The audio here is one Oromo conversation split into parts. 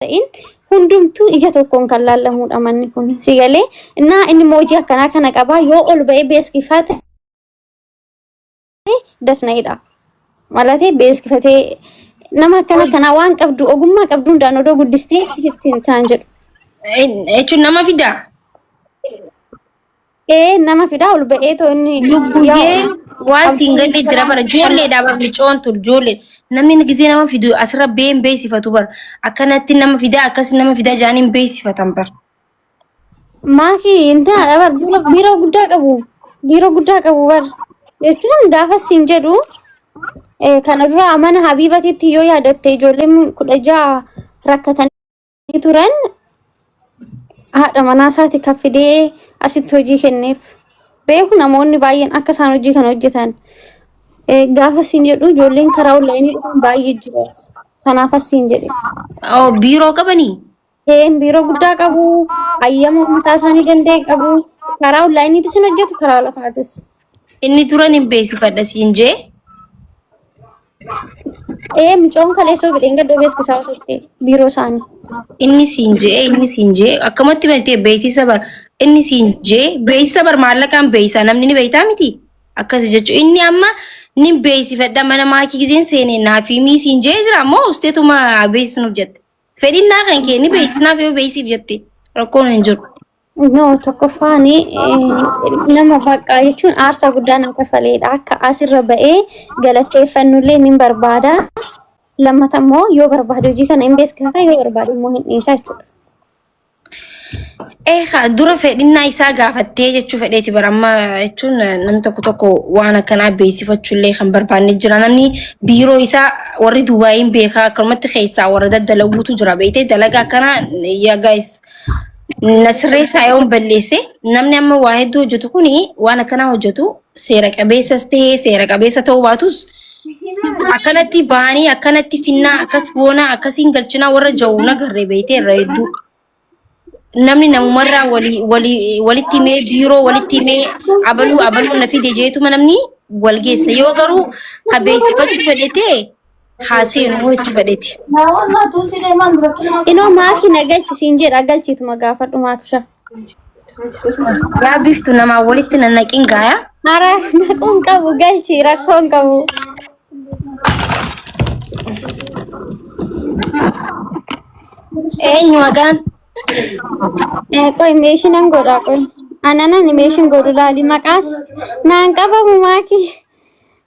ta'in hundumtuu ija tokkoon kan laallamuudha manni kun si galee innaa inni moojii akkanaa kana qabaa yoo ol ba'ee beeskifaa ta'e dasna'idha malatee beeskifatee nama akkana kanaa waan qabdu ogummaa qabdu hundaan odoo guddistee sitti hin taan jedhu Jechuun nama fidaa? Ee nama fidaa ol ba'ee too inni Lubbuyyee waan siin Abdii galle jira bara Abdii ijoolleedha bara micoon tun ijoollee namni gisee nama fidu asirra bee hin beeksifatu bara akkanatti nama fidaa akkasi nama fidaa jaanii hin beeksifatan bara. Maakii hin taane bar biiroo biiroo guddaa qabu biiroo guddaa qabu bar jechuun gaafa siin jedhu eh, kana dura mana Habiibatitti yoo yaadatte ijoolleen kudha ja'a rakkatan turan haadha manaa isaati kan fidee asitti hojii kenneef beeku namoonni baay'een akka isaan hojii kana hojjetan Eh, gaafa siin jedhu ijoolleen karaa onlaayinii dhufan baay'ee jiru sanaaf as siin jedhe Oo biiroo qabanii? Een biiroo guddaa qabu hayyama mataa isaanii danda'e qabu karaa onlaayiniitis hin hojjetu karaa lafaatis Inni duran hin beeksifadha siin jee. Ee mucoon kaleessoo bidheen gaddoo beeksisaa turte biiroo isaanii. Inni siin jee inni siin jee akkamatti beektee beeksisa bar inni siin jee beeksisa bar maallaqaan beeksisa namni ni beektaa miti akkasi jechuun inni amma ni beeksifadha mana maakii giseen seenee naaf himii siin jee jira ammoo usteetuma beeksisnuuf jette fedhinnaa kan kee ni beeksisnaaf yoo beeksisiif jette rakkoon hin jiru. No tokkoffaan nama baqqaa jechuun aarsaa guddaa nama kafaleedha. Akka asirra ba'ee galateeffannullee ni barbaada. Lammata immoo yoo barbaade hojii kana hin beeksifata yoo barbaade immoo hin dhiisa jechuudha. Eegaa dura fedhinnaa isaa gaafattee jechuu fedheeti bara amma jechuun namni tokko tokko waan akkanaa beeksifachuullee kan barbaanne jira namni biiroo isaa warri Duubaayiin beekaa akkanumatti keessaa warra daddalaguutu jira beektee dalagaa akkanaa yaa gaayis na sirreessaa yoon balleesse namni amma waa hedduu hojjetu kun waan akkanaa hojjetu seera qabeessas ta'ee seera qabeessa ta'uu baatus akkanatti bahanii akkanatti finnaa akkas goonaa akkasiin galchinaa warra ja'u na garree beeytee irra hedduu namni namumarraa walii- walii- walitti himee biiroo walitti himee abaluu abaluu na fide jeetuma namni wal geessa yoo garuu ka beeksifachuu fedhetee haa seenu hojii badheeti. Naa wallaa tun fidee maan dura kennaa. Inoo maakii na galchi siin jedha galchiituma gaafadhu maaksha. Yaa biftu namaa walitti nannaqiin gaayaa. Hara naquun qabu galchi rakkoon qabu. Eenyu maqaan? Eh, Qoy meeshiin an godhaa qoy. Ananan meeshiin godhu laali maqaas naan qabamu maakii.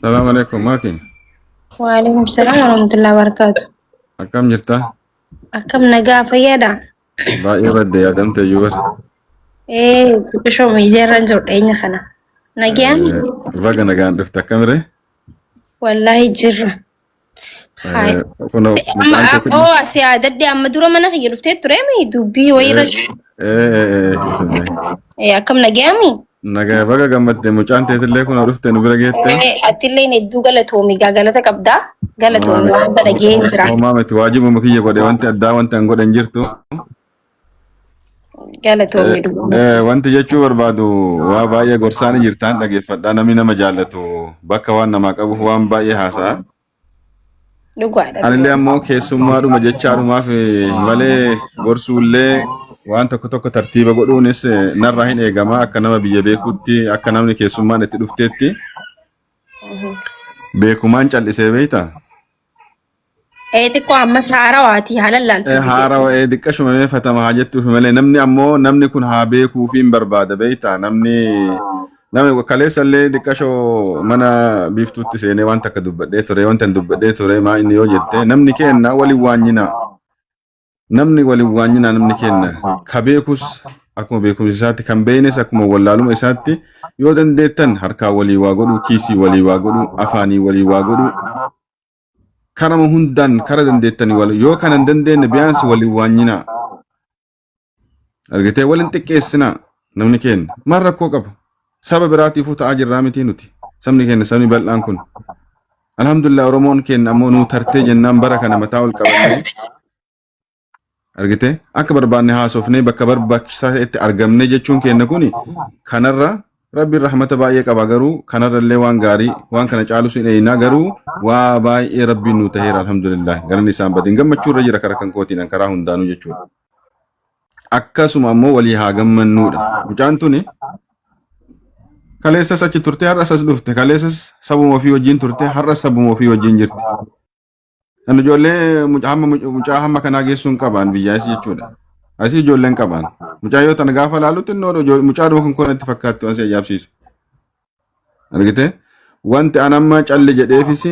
Salaam alaikum maaki. Waalaikum salam warahmatullahi wabarakatuh. Akkam jirta? Akkam nagaa fayyaadha? Baay'ee badde yaadamte iyyuu bar. Ee xiqqishoo miidiyaarraan jiru dhiyeenya kana. Nagaan Baga nagaan dhufte akkamire? wallaahi jirra. Hai. Kun Amma akkoo asii aadadde amma dura mana kiyya dhuftee ture mi dubbii wayiirra Eh, akkam nagayaami? Nagaa baga gammadde mucaan teetillee kun dhufte nu bira geette. Eh, Attilleen hedduu galatoomi gaa galata qabdaa galatoomi waan badhageen jira. Homaa miti waajibuma kiyya godhe wanti addaa wanti an godhe hin jirtu. Galatoomi Eh, dhugaa eh, rabbii. Wanti jechuu barbaadu waa baay'ee gorsaanii jirtaan dhageeffadhaa namni nama jaallatu bakka waan namaa qabuuf waan baay'ee haasa'a. Dhugaadha Anillee dhugaa. ammoo keessummaadhuma jechaadhumaaf eh, malee gorsuullee waan tokko tokko tartiiba godhuunis eh, narraa hin eegama akka nama biyya beekuutti akka namni keessummaan itti dhufteetti Mhm. beekumaan cal'isee beekta. Ee xiqqoo ammas haarawaati haala laaltu. Haarawa ee diqqashuma mee fatama haa jettuufi malee namni ammoo namni kun haa beekuufi hin barbaada beektaa namni namni kaleessa illee diqqashoo mana biiftuutti seenee waan takka dubbadhee ture wanta hin dubbadhee ture maa inni yoo jette namni keenna waliin waanyina Namni wal hin waanyinaa namni kenna ka beekus akkuma beekumsa isaatti kan beeynes akkuma wallaaluma isaatti yoo dandeettan harkaa walii waa godhuu kiisii walii waa godhuu afaanii walii waa godhuu karama hundaan kara dandeettanii wal yoo kana hin dandeenye biyaansi wal hin waanyinaa argitee wal hin xiqqeessinaa namni kenna maal rakkoo qaba Saba biraatiifuu ta'aa jirraa mitii nuti. Sabni keenya sabni bal'aan kun. Alhamdulillah Oromoon keenya ammoo nuu tartee jennaan bara kana mataa ol qabannee argite akka barbaanne haasofnee bakka barbaachisaa ta'etti argamne jechuun keenya kuni kanarra rabbiin rahmata baay'ee qaba garuu kanarra illee waan gaarii waan kana caalus hin eeynaa garuu waa baay'ee rabbiin nuu ta'eera alhamdulillah galanni isaan badin gammachuu irra jira karaa kan kootiin karaa hundaanuu jechuudha. akkasuma ammoo walii haa gammannuudha. Mucaan tuni kaleessas achi turte har'as as dhufte kaleessas sabuma ofii wajjin turte har'as sabuma ofii wajjin jirti. Kan ijoollee mucaa hamma mucaa hamma kanaa geessuu hin qabaan biyyaa isii jechuudha. Asii ijoolleen qabaan. Mucaa yoo tana gaafa laalutti innoo mucaa dhuma kun kun itti fakkaatti waan si ajaa'ibsiisu. argite wanti an amma calli jedheefis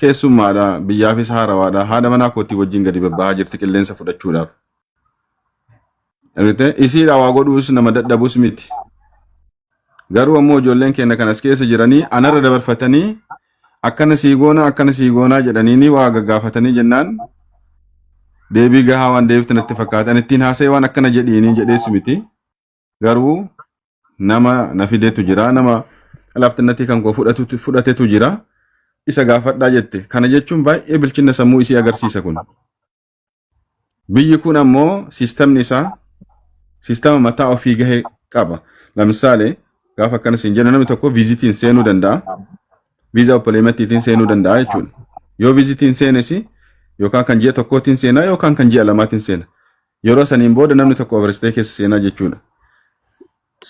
keessummaadha biyyaafis haarawaadha haadha manaa kootii wajjin gadi babbahaa jirti qilleensa fudhachuudhaaf argite isiidha waa godhuus nama dadhabus miti garuu ammoo ijoolleen keenya kan as keessa jiranii anarra dabarfatanii akkana sii goonaa akkana sii goonaa jedhanii waa gaggaafatanii jennaan deebii gahaa waan deebiftan itti fakkaatan ittiin haasa'e waan akkana jedhiinii jedhees miti. garuu nama na fidetu jira nama laaftinnatii kan koo fudhatu- fudhatetu jira isa gaafadhaa jette kana jechuun baay'ee bilchina sammuu isii agarsiisa kun biyyi kun ammoo siistamni isaa siistama mataa ofii gahe qaba lamsaale gaafa akkana siin jenna namni tokko viizitiin seenuu danda'a viizaa oppoleematiitiin seenuu danda'a jechuudha yoo viizitiin seenesi yookaan kan ji'a tokkootiin seenaa yookaan kan ji'a lamaatiin seena Yeroo saniin booda namni tokko Overstay keessa seenaa jechuudha.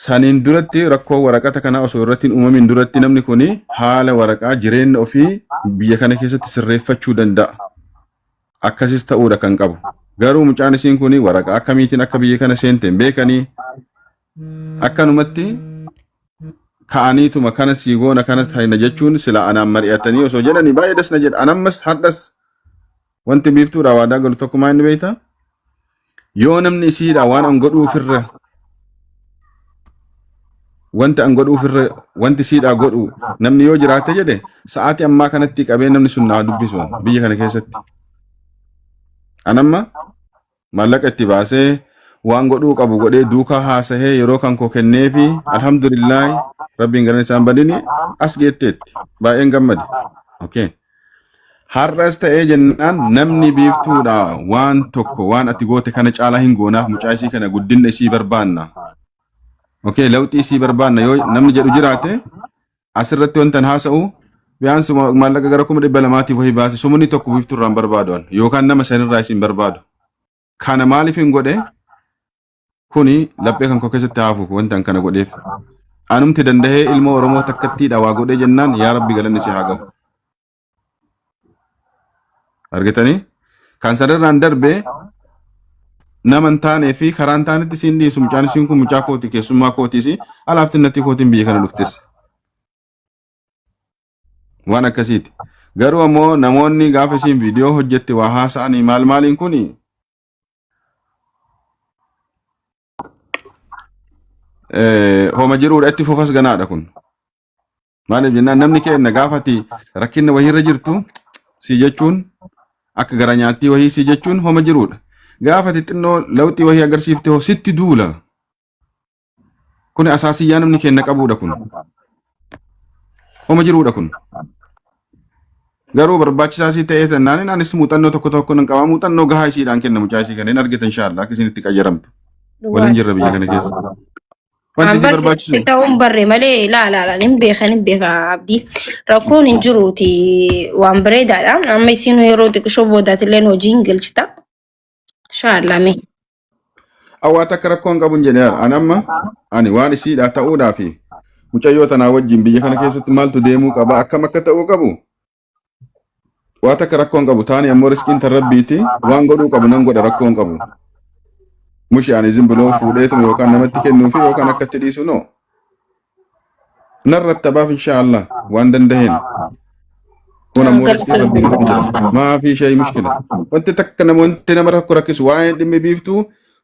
Saniin duratti rakkoo waraqata kanaa osoo irratti hin uumamin duratti namni kun haala waraqaa jireenya ofii biyya kana keessatti sirreeffachuu danda'a. Akkasis ta'uudha kan qabu. Garuu mucaan isiin kun waraqaa akkamiitiin akka biyya kana seente hin beekanii akkanumatti ka'aniituma kana sii goona kana taina jechuun sila anaan mari'atanii osoo jedhanii baay'ee das na jedha. Anammas hadhas Wanti biiftuudhaa waadaa galu tokkumaa inni beektaa? Yoo namni isiidhaa waan an godhuu ofirra wanti an godhuu ofirra wanti isiidhaa godhu namni yoo jiraate jedhe sa'aatii ammaa kanatti qabee namni sun naa dubbisu biyya kana keessatti. An amma maallaqa itti baasee waan godhuu qabu godhee duukaa haasahee yeroo kan koo kenneefi alhamdulillaahi rabbiin garan isaan badini as geetteetti baay'een gammade. Okay. Har'as ta'ee jennaan namni biiftuudha waan tokko waan ati goote kana caalaa hin goonaaf mucaa isii kana guddinna isii barbaanna. Okay, lawxii isii barbaanna yoo namni jedhu jiraate asirratti wantan haasa'u biyyaansi maallaqa gara kuma dhibba lamaatiif wahii baase sumni tokko biiftuu irraan barbaadu yookaan nama shanirraa isin barbaadu. Kana maaliif hin godhe kuni laphee kan koo keessatti haafuuf wantan kana godheef. Anumti danda'ee ilmoo Oromoo takkattii dhawaa godhee jennaan yaa rabbi galanni si haa gahu. argitanii kan sanarraan darbe nama hin taanee fi karaa hin taanetti siin dhiisu mucaan isiin kun mucaa kooti keessummaa kootiis alaafti natti kootiin biyya kana dhuftes waan akkasiiti garuu ammoo namoonni gaafa isiin viidiyoo hojjette waa haasa'anii maal maaliin kun homa jiruudha itti fufas ganaadha kun Maaliif jennaan namni keenna gaafati rakkinna wahiirra jirtu si jechuun akka gara nyaattii wahii si jechuun homa jiruudha. Gaafati xinnoo lawxii wahii agarsiifte hoo sitti duula. Kuni asaasiyyaa namni keenna qabuudha kun. Homa jiruudha kun. Garuu barbaachisaa sii ta'ee sannaan anis muuxannoo tokko tokko nan qaba. Muuxannoo gahaa isiidhaan kenna mucaa isii kana hin argitan shaalla akka isin itti qayyaramtu. Waliin jirra biyya kana keessa. Wanti An si barsi barbaachisu si ta'uun barre malee laa laa laa hin beekan hin beeka abdii rakkoon hin jiruuti waan bareedaadha amma isin yeroo xiqqishoo boodaatillee hojii hin galchita inshaallah mee hawaa takka rakkoo hin qabu hin jedhe an amma ani waan isiidhaa ta'uudhaa fi mucayyoo tanaa wajjin biyya kana keessatti maaltu deemuu qaba akkam akka ta'uu qabu Waa takka rakkoo hin qabu taani ammoo riskiin tan rabbiiti waan godhuu qabu nan godha rakkoo hin qabu. Mushi ani zin biloo fuudheetuma yookaan namatti kennuu fi yookaan akkatti dhiisu noo. Nan rattabaaf inshaa Allah waan dandaheen. Kun ammoo riskiin rabbii irratti jira. Maafii shayii mushkila. Wanti takka nama wanti nama rakko rakkisu waa'een dhimmi biiftuu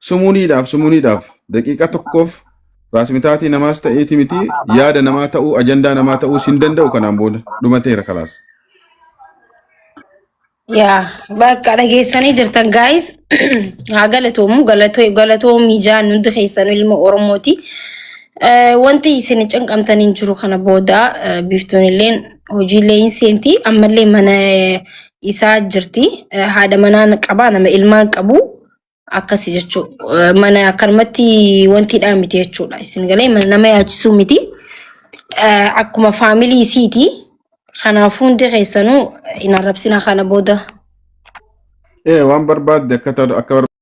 Sumuuniidhaaf sumuuniidhaaf daqiiqaa tokkoof raasmitaatii namaas ta'eeti miti yaada namaa ta'uu ajandaa namaa ta'uus hin danda'u kanaan booda dhumateera kalaas. Yaa bakka dhageessanii jirtan gaayis haa galatoomu galatoo galatoomii jaan hundi keessan ilma Oromooti. Eh, Wanti isin cinqamtan hin jiru kana booda eh, biiftuun illeen hojiilee hin seenti ammallee mana eh, isaa jirti Eh, haadha manaa qaba nama ilmaan qabu akkasi jechuu mana akkanumatti wanti dhaa miti jechuudha isin galee mana nama yaachisuu miti Eh, akkuma faamilii isiiti kanaaf hundi keessanuu hin arrabsina kana booda Ee waan barbaadde akka ta'u akka